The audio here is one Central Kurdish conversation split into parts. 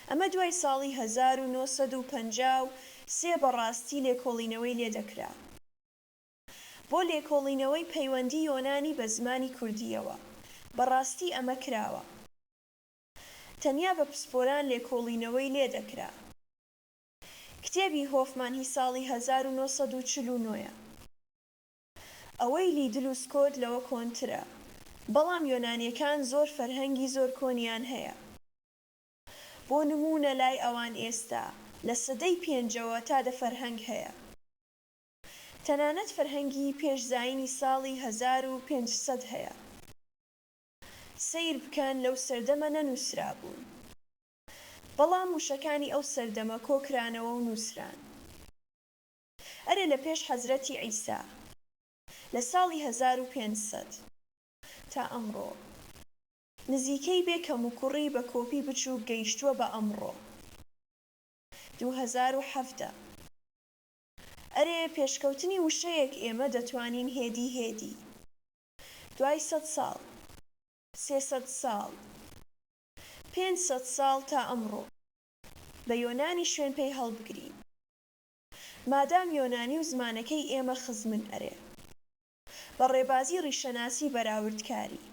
ئەمە دوای ساڵی هەزار و نۆ سەد و پەنجا و سێ بەڕاستی لێکۆڵینەوەی لێ دەکرا بۆ لێکۆڵینەوەی پەیوەندی یۆنانی بە زمانی کوردییەوە بەڕاستی ئەمە کراوە تەنیا بە پسپۆران لێکۆڵینەوەی لێ دەکرا کتێبی هۆفمان هی ساڵی هەزار و نۆ سەد و چل و نۆ یە. ئەوەی لیدل و سکۆت لەوە کۆنترە بەڵام یۆنانیەکان زۆر فەرهەنگی زۆر کۆنیان هەیە بۆ نموونە لای ئەوان ئێستا لە سەدەی پێنجەوە تا دە فەرهەنگ هەیە تەنانەت فەرهەنگی پێش زاینی ساڵی هەزار و پێنج سەد هەیە سەیر بکەن لەو سەردەمە نەنووسرابوون بەڵام وشەکانی ئەو سەردەمە کۆکرانەوە و نووسران. ئەرێ لە پێش حەزرەتی عیسا لە ساڵی هەزار و پێنج سەد تا ئەمڕۆ نزیکەی بێ کەموکوڕی بە کۆپی بچووک گەیشتووە بە ئەمڕۆ دوو هەزار و حەڤدە ئەرێ پێشکەوتنی وشەیەک ئێمە دەتوانین هێدی هێدی دوای سەد ساڵ سێ سەد ساڵ پێنج سەد ساڵ تا ئەمڕۆ بە یۆنانی شوێن پێی هەڵبگرین مادام یۆنانی و زمانەکەی ئێمە خزمن ئەرێ بە ڕێبازی ڕیشەناسی بەراوردکاری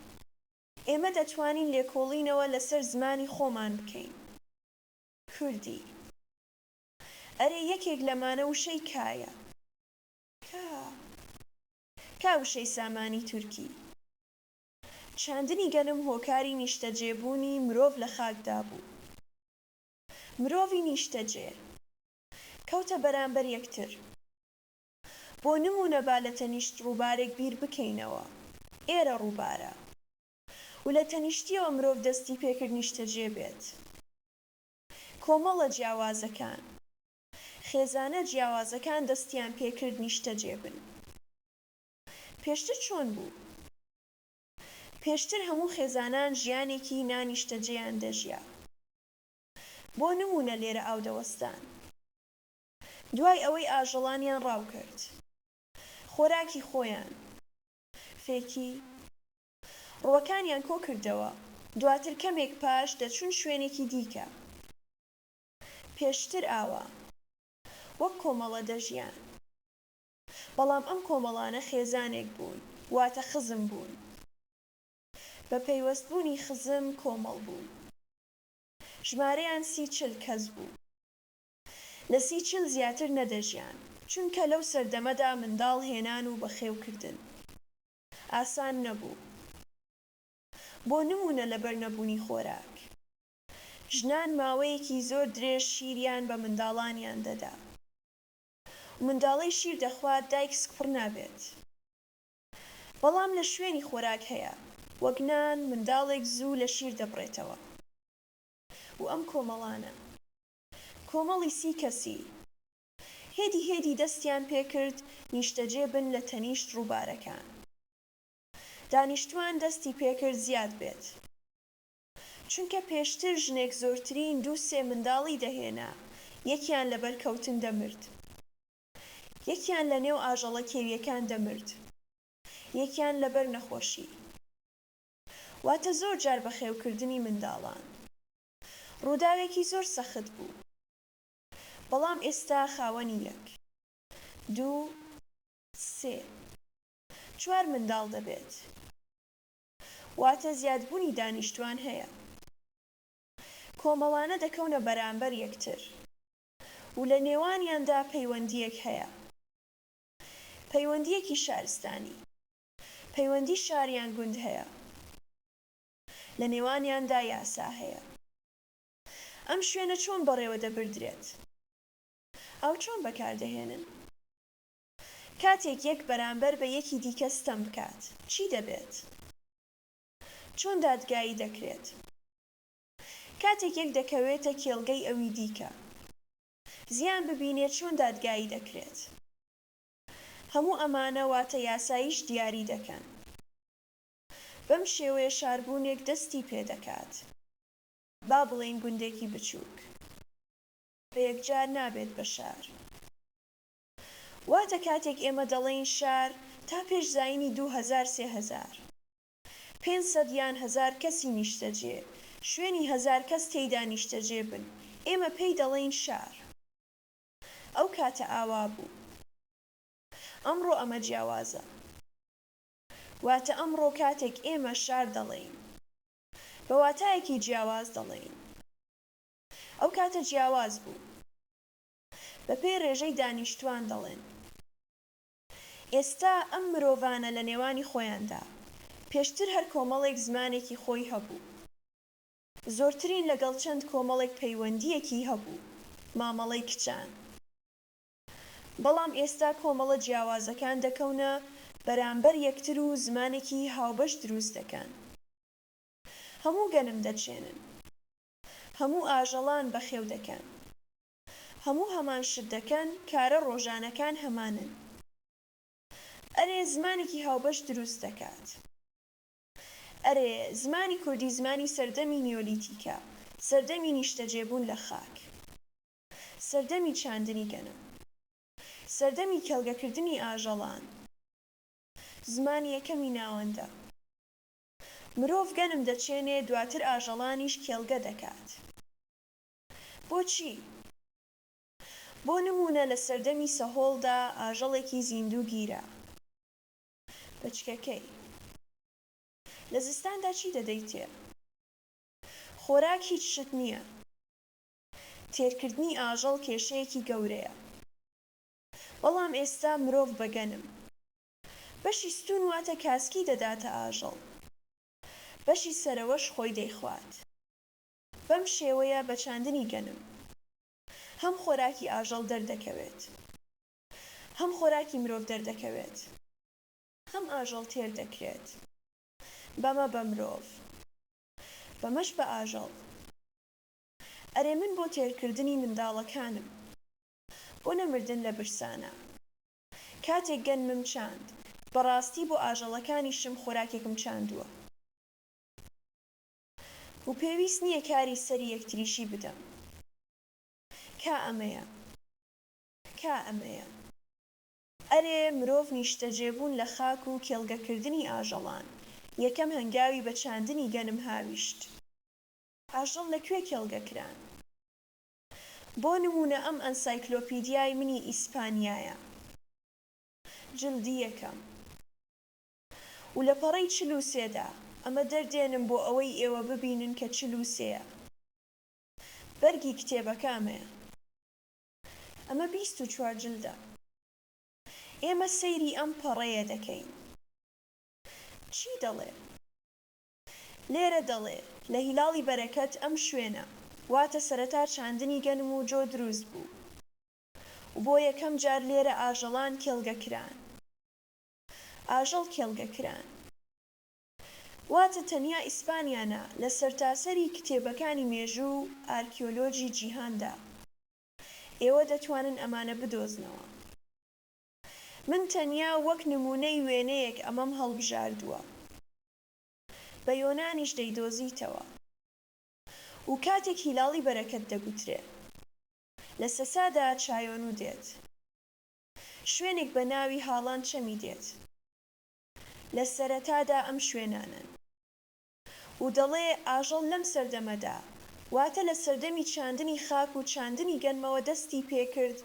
ئێمە دەتوانین لێکۆڵینەوە لەسەر زمانی خۆمان بکەین کوردی ئەرێ یەکێک لەمانە وشەی کایە کا کا وشەی سامانی تورکی چاندنی گەنم هۆکاری نیشتەجێبوونی مرۆڤ لە خاکدا بوو مرۆڤی نیشتەجێ. کەوتە بەرامبەر یەکتر. بۆ نموونە با لە تەنیشت ڕووبارێک بیر بکەینەوە. ئێرە ڕووبارە. و لە تەنیشتییەوە مرۆڤ دەستی پێ کرد نیشتەجێ بێت. کۆمەڵە جیاوازەکان، خێزانە جیاوازەکان دەستیان پێ کرد نیشتەجێ بن. پێشتر چۆن بوو؟ پێشتر هەموو خێزانان ژیانێکی نا نیشتەجێیان دەژیا. بۆ نموونە لێرە ئاو دەوەستان دوای ئەوەی ئاژەڵانیان ڕاو کرد خۆراکی خۆیان فێکی ڕووەکانیان کۆ کردەوە دواتر کەمێک پاش دەچوون شوێنێکی دیکە پێشتر ئاوا وەک کۆمەڵە دەژیان بەڵام ئەم کۆمەڵانە خێزانێک بوون واتە خزم بوون بە پەیوەست بوونی خزم کۆمەڵ بوون. ژمارەیان سی چل کەس بوو. لە سی چل زیاتر نەدەژیان، چونکە لەو سەردەمەدا منداڵ هێنان و بەخێوکردن ئاسان نەبوو. بۆ نموونە لەبەر نەبوونی خۆراک، ژنان ماوەیەکی زۆر درێژ شیریان بە منداڵانیان دەدا و منداڵەی شیر دەخوات دایک سکپڕ نابێت. بەڵام لە شوێنی خۆراک هەیە وەک نان منداڵێک زوو لە شیر دەبڕێتەوە و ئەم کۆمەڵانە کۆمەڵی سی کەسی هێدی هێدی دەستیان پێکرد نیشتەجێ بن لە تەنیشت ڕووبارەکان دانیشتوان دەستی پێکرد زیاد بێت چونکە پێشتر ژنێک زۆرترین دوو سێ منداڵی دەهێنا یەکیان لەبەر کەوتن دەمرد یەکیان لە نێو ئاژەڵە کێویەکان دەمرد یەکیان لەبەر نەخۆشی واتە زۆر جار بەخێوکردنی منداڵان ڕووداوێکی زۆر سەخت بوو بەڵام ئێستا خاوەنی یەک دوو سێ چوار منداڵ دەبێت واتە زیادبوونی دانیشتوان هەیە کۆمەڵانە دەکەونە بەرامبەر یەکتر و لە نێوانیاندا پەیوەندییەک هەیە، پەیوەندییەکی شارستانی، پەیوەندی شار یان گوند هەیە، لە نێوانیاندا یاسا هەیە. ئەم شوێنە چۆن بەڕێوە دەبردرێت؟ ئاو چۆن بەکار دەهێنن؟ کاتێک یەک بەرامبەر بە یەکی دیکە ستەم بکات، چی دەبێت؟ چۆن دادگایی دەکرێت؟ کاتێک یەک دەکەوێتە کێڵگەی ئەوی دیکە زیان ببینێت چۆن دادگایی دەکرێت هەموو ئەمانە واتە یاساییش دیاری دەکەن بەم شێوەیە شاربوونێک دەستی پێدەکات با بڵێین گوندێکی بچووک بە یەکجار نابێت بە شار واتە کاتێک ئێمە دەڵێین شار تا پێش زایینی دوو هەزار سێ هەزار پێنج سەد یان هەزار کەسی نیشتەجێ، شوێنی هەزار کەس تێیدا نیشتەجێ بن، ئێمە پێی دەڵێین شار. ئەو کاتە ئاوا بوو. ئەمڕۆ ئەمە جیاوازە. واتە ئەمڕۆ کاتێک ئێمە شار دەڵێین، بە واتایەکی جیاواز دەڵێین. ئەو کاتە جیاواز بوو. بەپێی ڕێژەی دانیشتووان دەڵێن. ئێستا ئەم مرۆڤانە لە نێوانی خۆیاندا، پێشتر هەر کۆمەڵێک زمانێکی خۆی هەبوو، زۆرترین لەگەڵ چەند کۆمەڵێک پەیوەندییەکی هەبوو، مامەڵەی کچان، بەڵام ئێستا کۆمەڵە جیاوازەکان دەکەونە بەرامبەر یەکتر و زمانێکی هاوبەش دروست دەکەن. هەموو گەنم دەچێنن. هەموو ئاژەڵان بەخێو دەکەن. هەموو هەمان شت دەکەن کارە ڕۆژانەکان هەمانن ئەرێ زمانێکی هاوبەش دروست دەکات ئەرێ زمانی کوردی زمانی سەردەمی نیۆلیتیکە سەردەمی نیشتەجێبوون لە خاک سەردەمی چاندنی گەنم سەردەمی کێڵگەکردنی ئاژەڵان زمانی یەکەمی ناوەندە مرۆڤ گەنم دەچێنێ دواتر ئاژەڵانیش کێڵگە دەکات. بۆچی؟ بۆ نموونە لە سەردەمی سەهۆڵدا ئاژەڵێکی زیندوو گیرا بەچکەکەی. لە زستاندا چی دەدەیتێ؟ خۆراک هیچ شت نییە. تێرکردنی ئاژەڵ کێشەیەکی گەورەیە. بەڵام ئێستا مرۆڤ بەگەنم. بەشی ستوون واتە کاسکی دەداتە ئاژەڵ. بەشی سەرەوەش خۆی دەیخوات. بەم شێوەیە بە چاندنی گەنم هەم خۆراکی ئاژەڵ دەردەکەوێت هەم خۆراکی مرۆڤ دەردەکەوێت هەم ئاژەڵ تێر دەکرێت بەمە بە مرۆڤ بەمەش بە ئاژەڵ ئەرێ من بۆ تێرکردنی منداڵەکانم بۆ نەمردن لە برسانە کاتێک گەنمم چاند بەڕاستی بۆ ئاژەڵەکانیشم خۆراکێکم چاندووە. و پێویست نیە کاری سەری یەکتریشی بدەم کا ئەمەیە کا ئەمەیە. ئەرێ مرۆڤ نیشتەجێ بوون لە خاک و کێڵگە کردنی ئاژەڵان یەکەم هەنگاوی بە چاندنی گەنم هاویشت ئاژەڵ لە کوێ کێڵگە کران بۆ نموونە ئەم ئەنسایکلۆپیدیای منی ئیسپانیایە جلدی یەکەم. و لە پەڕەی چل و سێ دا، ئەمە دەردێنم بۆ ئەوەی ئێوە ببینن کە چل و سێ یە. بەرگی کتێبەکە ئەمەیە. ئەمە بیست و چوار جلدە. ئێمە سەیری ئەم پەڕەیە دەکەین. چی دەڵێ؟ لێرە دەڵێ، لە هیلاڵی بەرەکەت ئەم شوێنە، واتە سەرەتا چاندنی گەنم و جۆ دروست بوو و بۆ یەکەم جار لێرە ئاژەڵان کێڵگە کران. ئاژەڵ کێڵگە کران. واتە تەنیا ئیسپانیا نا، لە سەرتاسەری کتێبەکانی مێژوو و ئارکیۆلۆجی جیهاندا ئێوە دەتوانن ئەمانە بدۆزنەوە. من تەنیا وەک نموونەی وێنەیەک ئەمەم هەڵبژاردووە. بە یۆنانیش دەیدۆزیتەوە و کاتێک هیلاڵی بەرەکەت دەگوترێ. لە سەسادا چایۆنو دێت. شوێنێک بە ناوی هاڵان چەمی دێت لە سەرەتادا ئەم شوێنانەن و دەڵێ ئاژەڵ لەم سەردەمەدا واتە لە سەردەمی چاندنی خاک و چاندنی گەنمەوە دەستی پێ کرد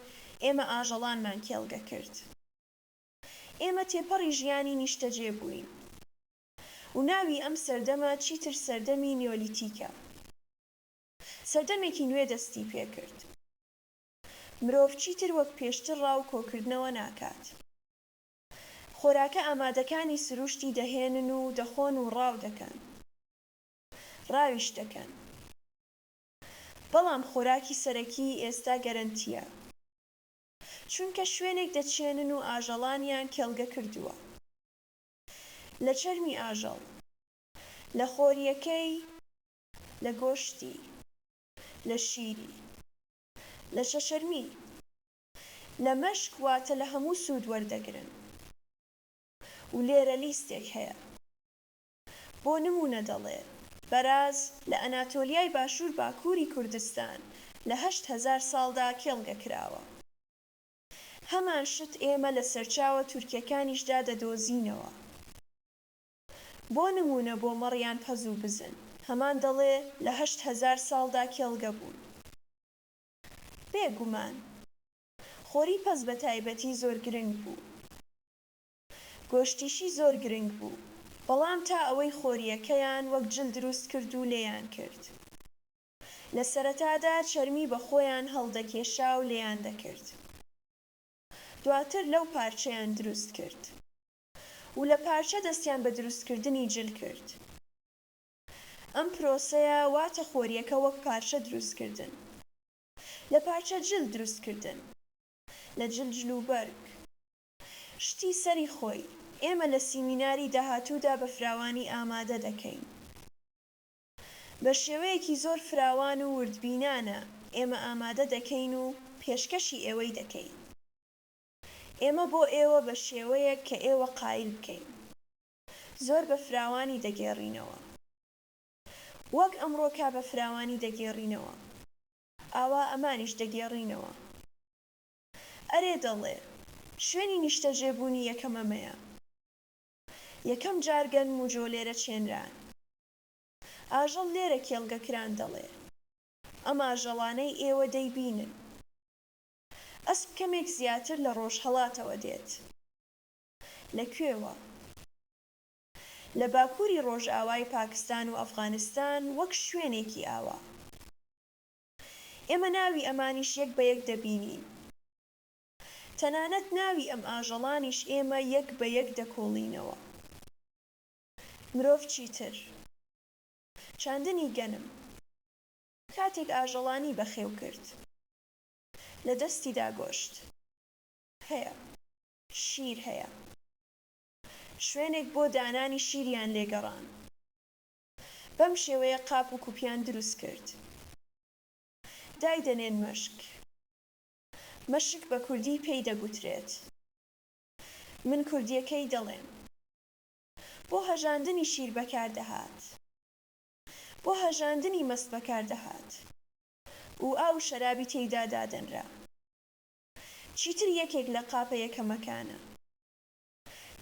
ئێمە ئاژەڵانمان کێڵگە کرد ئێمە تێپەڕی ژیانی نیشتەجێ بووین و ناوی ئەم سەردەمە چیتر سەردەمی نیۆلیتیکە سەردەمێکی نوێ دەستی پێ کرد. مرۆڤ چیتر وەک پێشتر ڕا و کۆکردنەوە ناکات. خۆراکە ئامادەکانی سروشتی دەهێنن و دەخۆن و ڕاو دەکەن. ڕاویش دەکەن. بەڵام خۆراکی سەرەکیی ئێستا گەرەنتییە. چونکە شوێنێک دەچێنن و ئاژەڵانیان کێڵگە کردووە. لە چەرمی ئاژەڵ. لە خۆرییەکەی. لە گۆشتی. لە شیری. لە شەشەروی لە مەشک واتە لە هەموو سوود وەردەگرن و لێرە لیستێک هەیە بۆ نموونە دەڵێ بەراز لە ئەناتۆلیای باشوور باکووری کوردستان لە هەشت هەزار ساڵدا کێڵگە کراوە هەمان شت ئێمە لە سەرچاوە تورکیەکانیشدا دەدۆزینەوە. بۆ نموونە بۆ مەڕ یان پەز و بزن هەمان دەڵێ لە هەشت هەزار ساڵدا کێڵگە بوون بێ گومان. خۆری پەز بە تایبەتی زۆر گرنگ بوو. گۆشتیشی زۆر گرنگ بوو. بەڵام تا ئەوەی خۆرییەکەیان وەک جل دروست کرد و لێیان کرد. لە سەرەتادا چەرمی بە خۆیان هەڵدەکێشا و لێیان دەکرد. دواتر لەو پارچەیان دروست کرد. و لە پارچە دەستیان بە دروستکردنی جل کرد. ئەم پرۆسەیە واتە خۆریەکە وەک پارچە دروستکردن. لە پارچە جل دروستکردن. لە جل جلوبەرگ. شتی سەری خۆی. ئێمە لە سیمیناری داهاتوودا بە فراوانی ئامادە دەکەین. بە شێوەیەکی زۆر فراوان و وردبینانە ئێمە ئامادە دەکەین و پێشکەشی ئێوەی دەکەین. ئێمە بۆ ئێوە بە شێوەیەک کە ئێوە قایل بکەین زۆر بە فراوانی دەگێڕینەوە. وەک ئەمڕۆکە بە فراوانی دەگێڕینەوە. ئاوا ئەمانیش دەگێڕینەوە. ئەرێ دەڵێ، شوێنی نیشتەجێبوونی یەکەم ئەمەیە. یەکەم جار گەنم و جۆ لێرە چێنران. ئاژەڵ لێرە کێڵگە کران دەڵێ، ئەم ئاژەڵانەی ئێوە دەیبینن. ئەسپ کەمێک زیاتر لە ڕۆژهەڵاتەوە دێت. لە کوێوە؟ لە باکووری ڕۆژئاوای پاکستان و ئەفغانستان وەک شوێنێکی ئاوا. ئێمە ناوی ئەمانیش یەک بە یەک دەبینین. تەنانەت ناوی ئەم ئاژەڵانیش ئێمە یەک بە یەک دەکۆڵینەوە. مرۆڤ چیتر. چاندنی گەنم. کاتێک ئاژەڵانی بەخێو کرد. لە دەستیدا گۆشت هەیە، شیر هەیە. شوێنێک بۆ دانانی شیریان لێ گەڕاند. بەم شێوەیە قاپ و کوپیان دروست کرد. دایدەنێن مەشک. مەشک بە کوردی پێی دەگوترێت. من کوردییەکەی دەڵێم. بۆ هەژاندنی شیر بەکار دەهات. بۆ هەژاندنی مەست بەکار دەهات. و ئاو و شەرابی تێیدا دادەنرا. چیتر یەکێک لە قاپە یەکەمەکانە.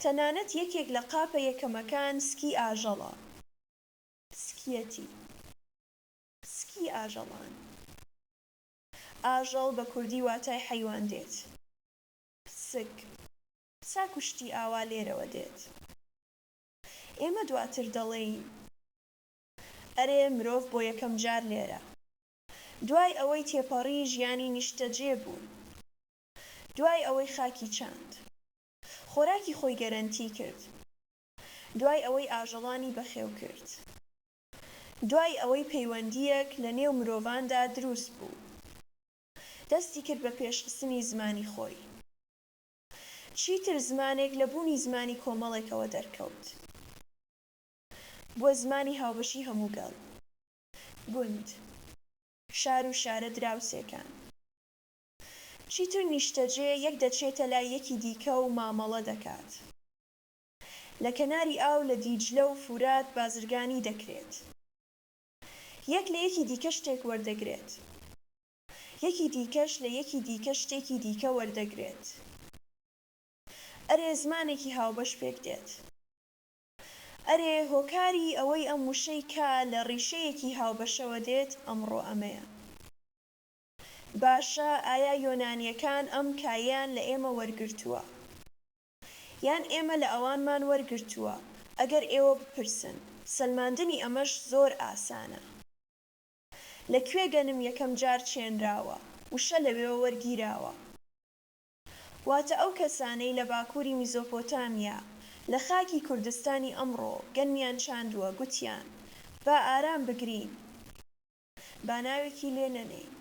تەنانەت یەکێک لە قاپە یەکەمەکان سکی ئاژەڵە. سکیەتی. سکی ئاژەڵان. ئاژەڵ بە کوردی واتای حەیوان دێت. سک. ساک و شتی ئاوا لێرەوە دێت. ئێمە دواتر دەڵێین. ئەرێ مرۆڤ بۆ یەکەم جار لێرە دوای ئەوەی تێپەڕی ژیانی نیشتەجێ بوو دوای ئەوەی خاکی چاند خۆراکی خۆی گەرەنتی کرد دوای ئەوەی ئاژەڵانی بەخێو کرد دوای ئەوەی پەیوەندییەک لە نێو مرۆڤاندا دروست بوو دەستی کرد بە پێشخستنی زمانی خۆی چیتر زمانێک لە بوونی زمانی کۆمەڵێکەوە دەرکەوت. بووە زمانی هاوبەشی هەموو گەل، گوند، شار و شارە دراوسێکان. چیتر نیشتەجێ یەک دەچێتە لای یەکی دیکە و مامەڵە دەکات. لە کەناری ئاو لە دیجلە و فورات بازرگانی دەکرێت. یەک لە یەکی دیکە شتێک وەردەگرێت. یەکی دیکەش لە یەکی دیکە شتێکی دیکە وەردەگرێت. ئەرێ زمانێکی هاوبەش پێک دێت. ئەرێ هۆکاری ئەوەی ئەم وشەی کا لە ڕیشەیەکی هاوبەشەوە دێت ئەمڕۆ ئەمەیە. باشە ئایا یۆنانیەکان ئەم کایەیان لە ئێمە وەرگرتووە؟ یان ئێمە لە ئەوانمان وەرگرتووە؟ ئەگەر ئێوە بپرسن. سەلماندنی ئەمەش زۆر ئاسانە. لە کوێ گەنم یەکەم جار چێنراوە؟ وشە لەوێوە وەرگیراوە. واتە ئەو کەسانەی لە باکووری میزۆپۆتامیا لە خاکی کوردستانی ئەمڕۆ گەنمیان چاندووە، گوتیان، با ئارام بگرین، با ناوێکی لێ نەنێین،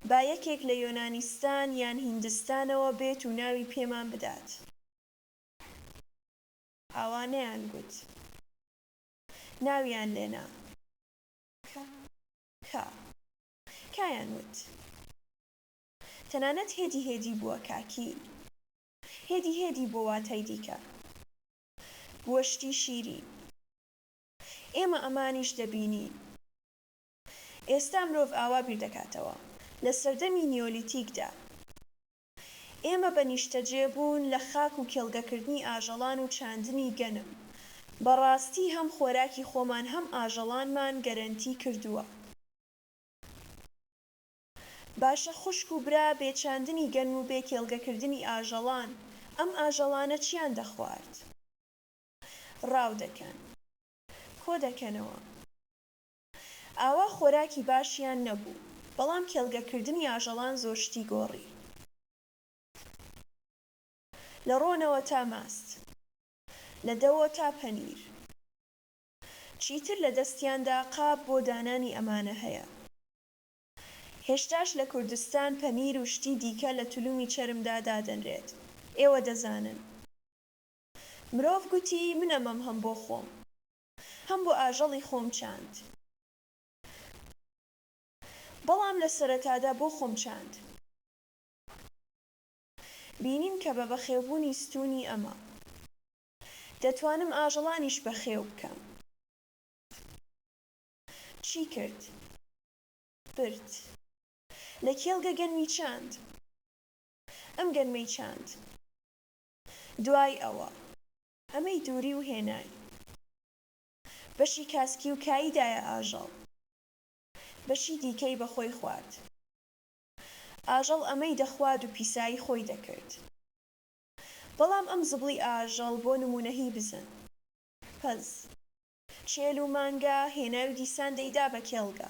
با یەکێک لە یۆنانیستان یان هیندستانەوە بێت و ناوی پێمان بدات. ئاوا نەیانگوت. ناویان لێ نا. کە. کایان وت تەنانەت هێدی هێدی بووە کاکی هێدی هێدی بۆ واتای دیکە بووە شتی شیرین ئێمە ئەمانیش دەبینین ئێستا مرۆڤ ئاوا بیردەکاتەوە لە سەردەمی نیۆلیتیکدا ئێمە بە نیشتەجێ بوون لە خاک و کێڵگەکردنی ئاژەڵان و چاندنی گەنم، بە ڕاستی هەم خۆراکی خۆمان هەم ئاژەڵانمان گەرەنتی کردووە. باشە خوشک و برا بێ چاندنی گەنم و بێ کێڵگەکردنی ئاژەڵان ئەم ئاژەڵانە چیان دەخوارد؟ ڕاو دەکەن. کۆ دەکەنەوە. ئاوا خۆراکی باشیان نەبوو، بەڵام کێڵگەکردنی ئاژەڵان زۆر شتی گۆڕی، لە ڕۆنەوە تا ماست، لە دەوۆ تا پەنیر، چیتر لە دەستیاندا قاپ بۆ دانانی ئەمانە هەیە. هێشتاش لە کوردستان پەنیر و شتی دیکە لە تلومی چەرمدا دادەنرێت، ئێوە دەزانن. مرۆڤ گوتی، من ئەمەم هەم بۆ خۆم. هەم بۆ ئاژەڵی خۆم چاند. بەڵام لە سەرەتادا بۆ خۆم چاند. بینیم کە بە بەخێوبوونی ستوونی ئەمە. دەتوانم ئاژەڵانیش بەخێو بکەم. چی کرد؟ برد. لە کێڵگە گەنمی چاند. ئەم گەنمەی چاند. دوای ئەوە. ئەمەی دووری و هێنای. بەشی کاسکی و کایی دایە ئاژەڵ. بەشی دیکەی بە خۆی خوارد. ئاژەڵ ئەمەی دەخواد و پیسایی خۆی دەکرد. بەڵام ئەم زبڵی ئاژەڵ بۆ نموونە هی بزن. پەز. چێل و مانگا هێنای و دیسان دەیدا بە کێڵگە.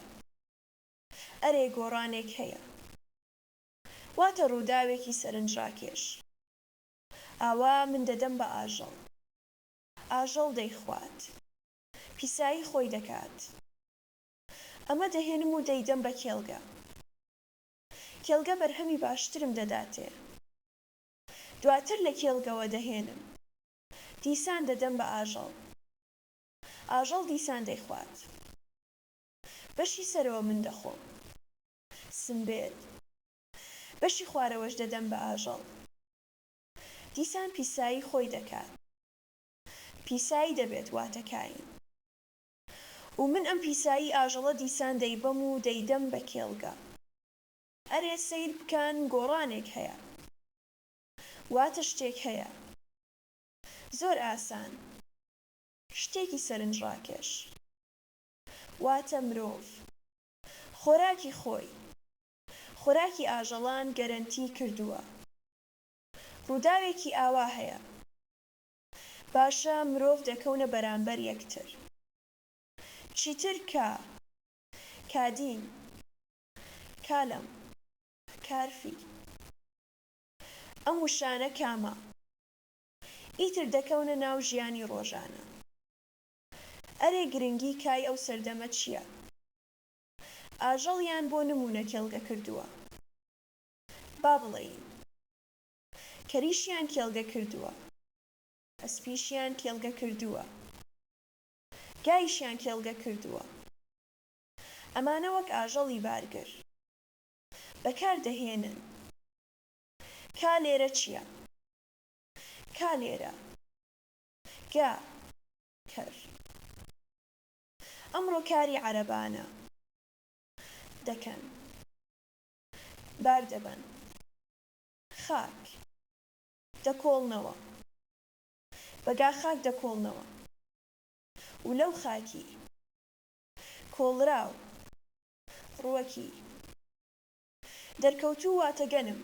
ئەرێ گۆڕانێک هەیە. واتە ڕووداوێکی سەرنجڕاکێش. ئاوا من دەدەم بە ئاژەڵ. ئاژەڵ دەیخوات. پیسایی خۆی دەکات. ئەمە دەهێنم و دەیدەم بە کێڵگە. کێڵگە بەرهەمی باشترم دەداتێ. دواتر لە کێڵگەوە دەهێنم. دیسان دەدەم بە ئاژەڵ. ئاژەڵ دیسان دەیخوات. بەشی سەرەوە من دەخۆم. سمبێل. بەشی خوارەوەش دەدەم بە ئاژەڵ. دیسان پیسایی خۆی دەکات. پیسایی دەبێت واتە کایین. و من ئەم پیسایی ئاژەڵە دیسان دەیبەم و دەیدەم بە کێڵگە. ئەرێ سەیر بکان گۆڕانێک هەیە. واتە شتێک هەیە. زۆر ئاسان. شتێکی سەرنجڕاکێش. واتە مرۆڤ. خۆراکی خۆی. خۆراکی ئاژەڵان گەرەنتی کردووە. ڕووداوێکی ئاوا هەیە. باشە مرۆڤ دەکەونە بەرامبەر یەکتر. چیتر کا. کادین. کالم. کارفی. ئەم وشانە کامە. ئیتر دەکەونە ناو ژیانی ڕۆژانە. ئەرێ گرنگی کای ئەو سەردەمە چیە؟ ئاژەڵیان بۆ نموونە کێڵگە کردووە. با بڵێین. کەریشیان کێڵگە کردووە. ئەسپیشیان کێڵگە کردووە. گایشیان کێڵگە کردووە. ئەمانە وەک ئاژەڵی بارگر. بەکار دەهێنن. کا لێرە چییە؟ کا لێرە. گا. کەر. ئەمڕۆ کاری عەرەبانە دەکەن بار دەبەن خاک دەکۆڵنەوە بەگا خاک دەکۆڵنەوە و لەو خاکی کۆڵراو ڕووەکی دەرکەوتوو واتە گەنم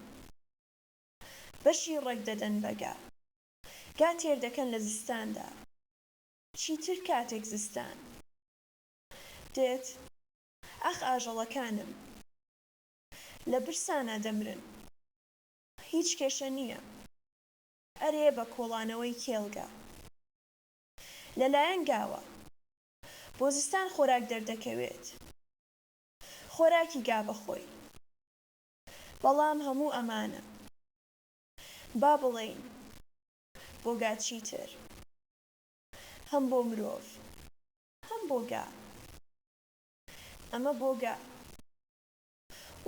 بەشی ڕێک دەدەن بەگا گا تێر دەکەن لە زستاندا چیتر کاتێک زستان دێت. ئاخ ئاژەڵەکانم لە برسانا دەمرن. هیچ کێشە نییە. ئەرێ بە کۆڵانەوەی کێڵگە لەلایەن گاوە بۆ زستان خۆراک دەردەکەوێت. خۆراکی گا بە خۆی. بەڵام هەموو ئەمانە با بڵێین بۆ گا چیتر هەم بۆ مرۆڤ هەم بۆ گا. ئەمە بۆ گا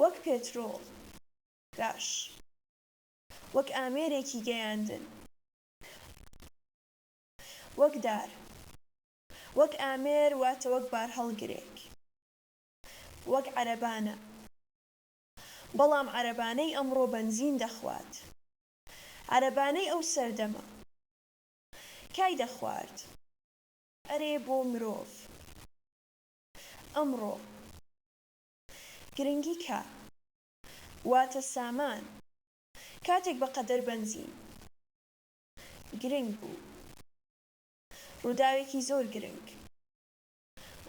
وەک پێترۆڵ، گاش، وەک ئامێرێکی گەیاندن، وەک دار، وەک ئامێر واتە وەک بارهەڵگرێک، وەک عەرەبانە، بەڵام عەرەبانەی ئەمڕۆ بەنزین دەخوات، عەرەبانەی ئەو سەردەمە کای دەخوارد. ئەرێ بۆ مرۆڤ ئەمڕۆ گرنگی کا واتە سامان کاتێک بە قەدەر بەنزین گرنگ بوو ڕووداوێکی زۆر گرنگ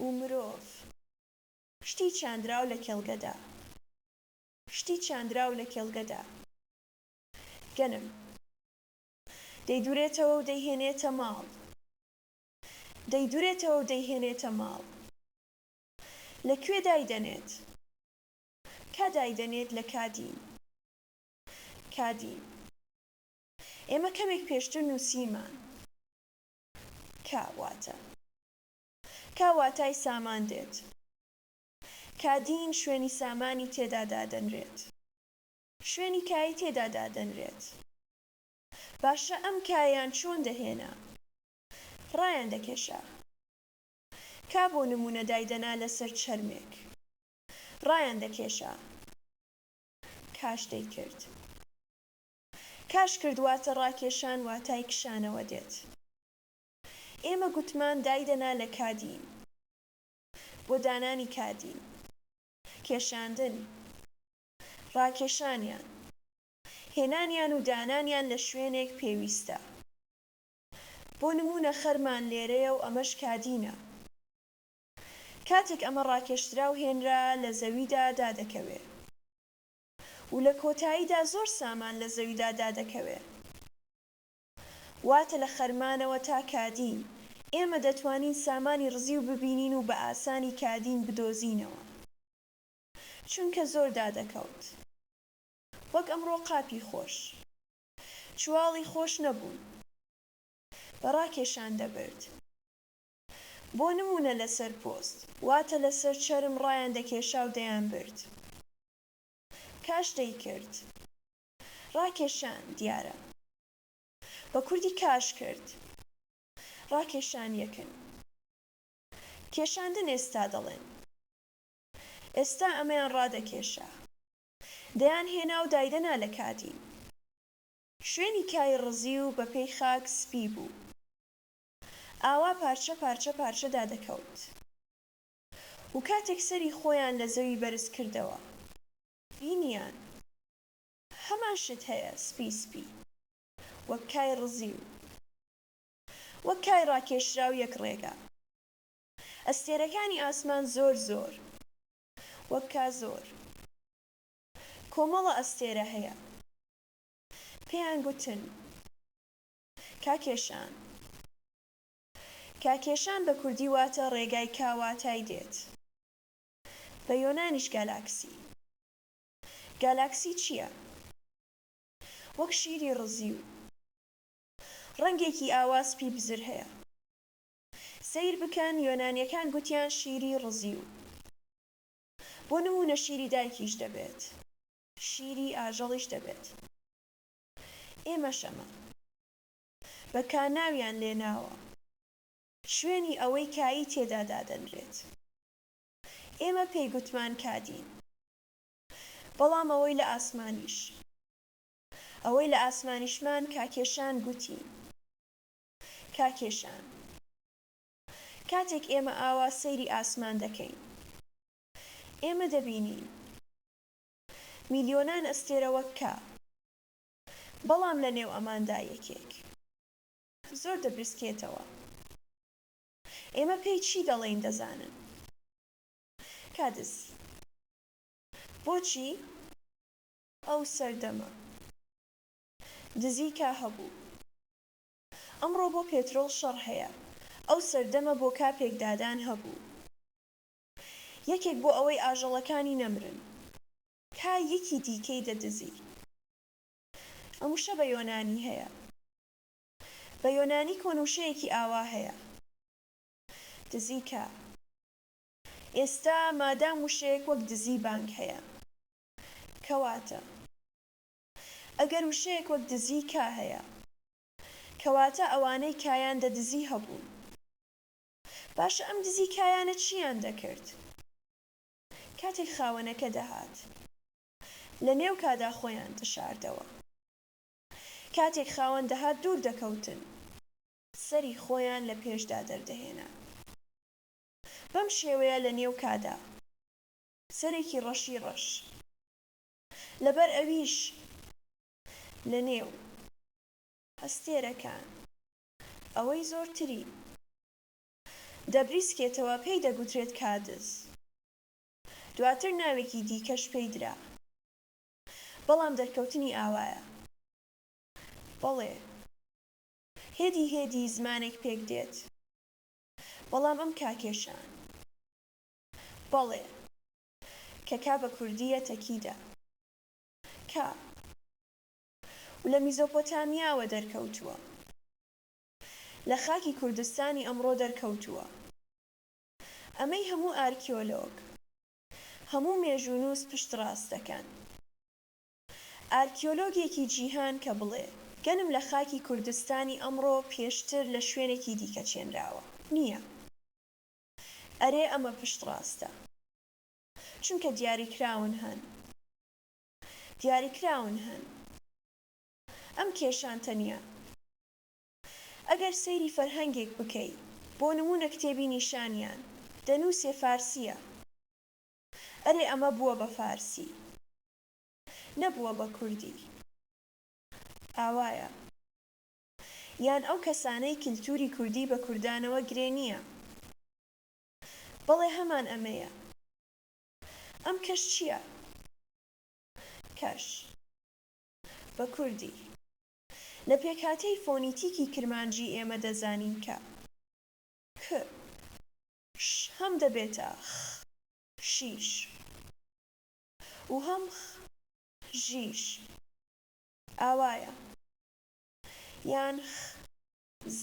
و مرۆڤ شتی چاندراو لە کێڵگەدا شتی چاندراو لە کێڵگەدا گەنم دەیدورێتەوە و دەیهێنێتە ماڵ. دەیدورێتەوە و دەیهێنێتە ماڵ. لە کوێ دایدەنێت؟ کا دایدەنێت لە کادین. کادین. ئێمە کەمێک پێشتر نووسیمان. کا واتە. کا واتای سامان دێت. کادین شوێنی سامانی تێدا دادەنرێت. شوێنی کای تێدا دادەنرێت. باشە ئەم کایان چۆن دەهێنا ڕایان دەکێشا کا بۆ نمونە دایدەنا لەسەر چەرمێک ڕایان دەکێشا کاش دەیکرد کاش کرد واتە ڕاکێشان واتای کشانەوە دێت ئێمە گوتمان دایدەنا لە کادین بۆ دانانی کادین کێشاندن ڕاکێشانیان هێنانیان و دانانیان لە شوێنێک پێویستە. بۆ نموونە خەرمان لێرەیە و ئەمەش کادینە. کاتێک ئەمە ڕاکێشدرا و هێنرا، لە زەویدا دادەکەوێ. و لە کۆتاییدا زۆر سامان لە زەویدا دادەکەوێ. واتە لە خەرمانەوە تا کادین، ئێمە دەتوانین سامانی ڕزیو ببینین و بە ئاسانی کادین بدۆزینەوە. چونکە زۆر دادەکەوت. وەک ئەمڕۆ قاپی خۆش. چواڵی خۆش نەبوون. بە ڕاکێشان دەبرد. بۆ نموونە لەسەر پۆست، واتە لەسەر چەرم ڕایان دەکێشا و دەیانبرد. کاش دەیکرد. ڕاکێشان، دیارە. بە کوردی کاش کرد. ڕاکێشان یەکن. کێشاندن ئێستا دەڵێن. ئێستا ئەمەیان ڕادەکێشا. دەیان هێنا و دایدەنا لە کاتی. شوێنی کای ڕزی و بە پێی خاک سپی بوو. ئاوا پارچە پارچە پارچە دادەکەوت و کاتێک سەری خۆیان لە زەوی بەرز کردەوە بینیان هەمان شت هەیە سپی سپی وەک کای ڕزی و وەک کای ڕاکێشراو یەک ڕێگا. ئەستێرەکانی ئاسمان زۆر زۆر. وەک کازۆر کۆمەڵە ئەستێرە هەیە پێیان گوتن کاکێشان کاکێشان بە کوردی واتە ڕێگای کا واتای دێت بە یۆنانیش گالاکسی گالاکسی چیە وەک شیری ڕزیو ڕەنگێکی ئاوا سپی بزر هەیە سەیر بکەن یۆنانیەکان گوتیان شیری ڕزی و بۆ نمونە شیری دایکیش دەبێت. شیری ئاژەڵیش دەبێت ئێمەشەمە بە کا ناویان لێناوە شوێنی ئەوەی کایی تێدا دادەنرێت ئێمە پێی گوتمان کادین بەڵام ئەوەی لە ئاسمانیش ئەوەی لە ئاسمانیشمان کاکێشان گوتی کاکێ ژان کاتێک ئێمە ئاوا سەیری ئاسمان دەکەین ئێمە دەبینین میلیۆنان ئەستێرە وەک کا بەڵام لە نێو ئەماندا یەکێک زۆر دەبریسکێتەوە ئێمە پێی چی دەڵێین دەزانن کادس بۆچی ئەو سەردەمە دزی کا هەبوو؟ ئەمڕۆ بۆ پێترۆڵ شەڕ هەیە ئەو سەردەمە بۆ کاپێک دادان هەبوو یەکێک بۆ ئەوەی ئاژەڵەکانی نەمرن کا یەکی دیکەی دەدزی ئەم وشە بە یۆنانی هەیە بە یۆنانی کۆن وشەیەکی ئاوا هەیە دزی کا ئێستا مادام وشەیەک وەک دزی بانگ هەیە کەواتە. ئەگەر وشەیەک وەک دزی کا هەیە کەواتە ئەوانەی کایان دە دزی هەبوون باشە ئەم دزی کایانە چیان دەکرد کاتێک خاوەنەکە دەهات لە نێو کادا خۆیان دەشاردەوە کاتێک خاوەن دەهات دوور دەکەوتن سەری خۆیان لە پێشدا دەردەهێنا بەم شێوەیە لە نێو کادا سەرێکی ڕەشی ڕەش. لەبەر ئەویش لە نێو ئەستێرەکان ئەوەی زۆرتری دەبریسکێتەوە پێی دەگوترێت کادز، دواتر ناوێکی دیکەش پێی درا، بەڵام دەرکەوتنی ئاوایە. بەڵێ، هێدی هێدی زمانێک پێک دێت، بەڵام ئەم کاکێشان، بەڵێ. کە کا بە کوردی یە تە کی دە کا و لە میزۆپۆتامیا وە دەر کە و توە لە خاکی کوردستانی ئە مڕۆ دەر کە و توە ئە مە ی هە موو ئارکیۆلۆگ هە موو مێژوونووس پشت ڕاست دە کەن ئارکیۆلۆگێکی جیهان کە بڵێ گەنم لە خاکی کوردستانی ئە مڕۆ پێشتر لە شوێنێکی دیکە چێنراوە نیە. ئەرێ ئەمە پشت ڕاستە چونکە دیاری کراون هەن دیاری کراون هەن ئەم کێشان تەنیا ئەگەر سەیری فەرهەنگێک بکەی بۆ نمونە کتێبی نیشانیان دەنوسێ فارسیە ئەرێ ئەمە بوە بە فارسی نەبوە بە کوردی ئاوایە. یان ئەو کەسانەی کلتوری کوردی بە کوردانەوە گرێ نیە؟ بەڵێ هەمان ئەمەیە. ئەم کەش چیە؟ کەش. بە کوردی. لە پێکهاتەی فۆنیتیکی کرمانجی ئێمە دەزانین کە. ک. ش هەم دەبێتە، خ. شیش. و هەم، خ. ژیش. ئاوایە. یان خ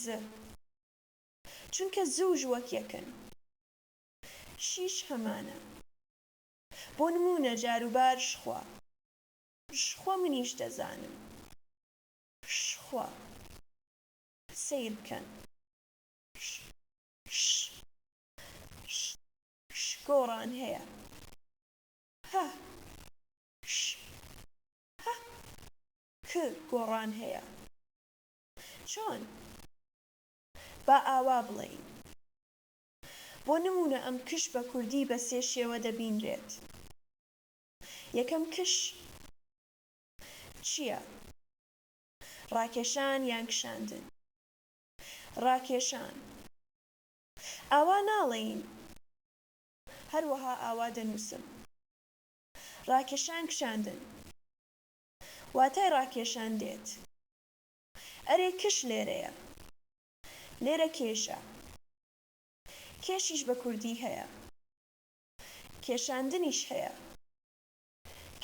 ز چونکە ز و ژ وەک یەکن. شیش هەمانە. بۆ نموونە جاروبار شخوا. شخوا منیش دەزانم. شخوا. سەیر بکەن. ش ش ش ش گۆڕان هەیە. هه ش هه ک گۆڕان هەیە چۆن؟ با ئاوا بڵێین. بۆ نموونە ئەم کش بە کوردی بە سێ شێوە دەبینرێت. یەکەم کش چییە؟ ڕاکێشان یان کشاندن؟ ڕاکێشان. ئاوا ناڵێین. هەروەها ئاوا دەنووسم. ڕاکێشان کشاندن. واتای ڕاکێشان دێت. ئەرێ کش لێرەیە. لێرە کێشە. کێشیش بە کوردی هەیە. کێشاندنیش هەیە.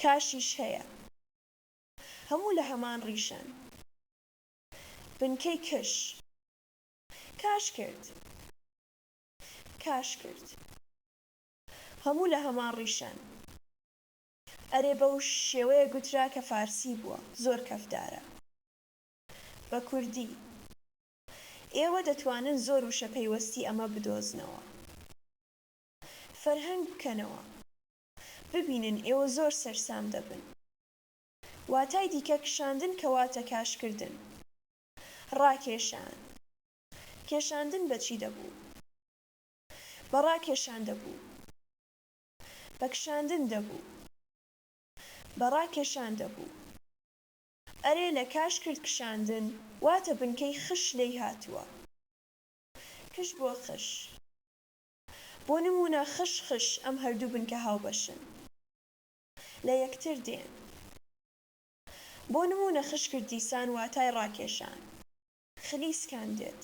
کاشیش هەیە. هەموو لە هەمان ڕیشەن. بنکەی کش. کاش کرد. کاش کرد. هەموو لە هەمان ڕیشەن. ئەرێ بەو شێوەیە گوترا کە فارسی بووە زۆر کەفدارە بە کوردی. ئێوە دەتوانن زۆر وشە پەیوەستی ئەمە بدۆزنەوە فەرهەنگ بکەنەوە ببینن ئێوە زۆر سەرسام دەبن. واتای دیکە کشاندن کە واتە کاشکردن. ڕاکێشان. کێشاندن بە چی دەبوو؟ بە ڕاکێشان دەبوو. بە کشاندن دەبوو بە ڕاکێشان دەبوو. ئەرێ لە کاش کرد کشاندن واتە بنکەی خش لێی هاتووە. کش بۆ خش. بۆ نموونە خش خش ئەم هەردوو بنکە هاوبەشن. لە یەکتر دێن. بۆ نموونە خش کرد دیسان واتای ڕاکێشان. خلیسکان دێت.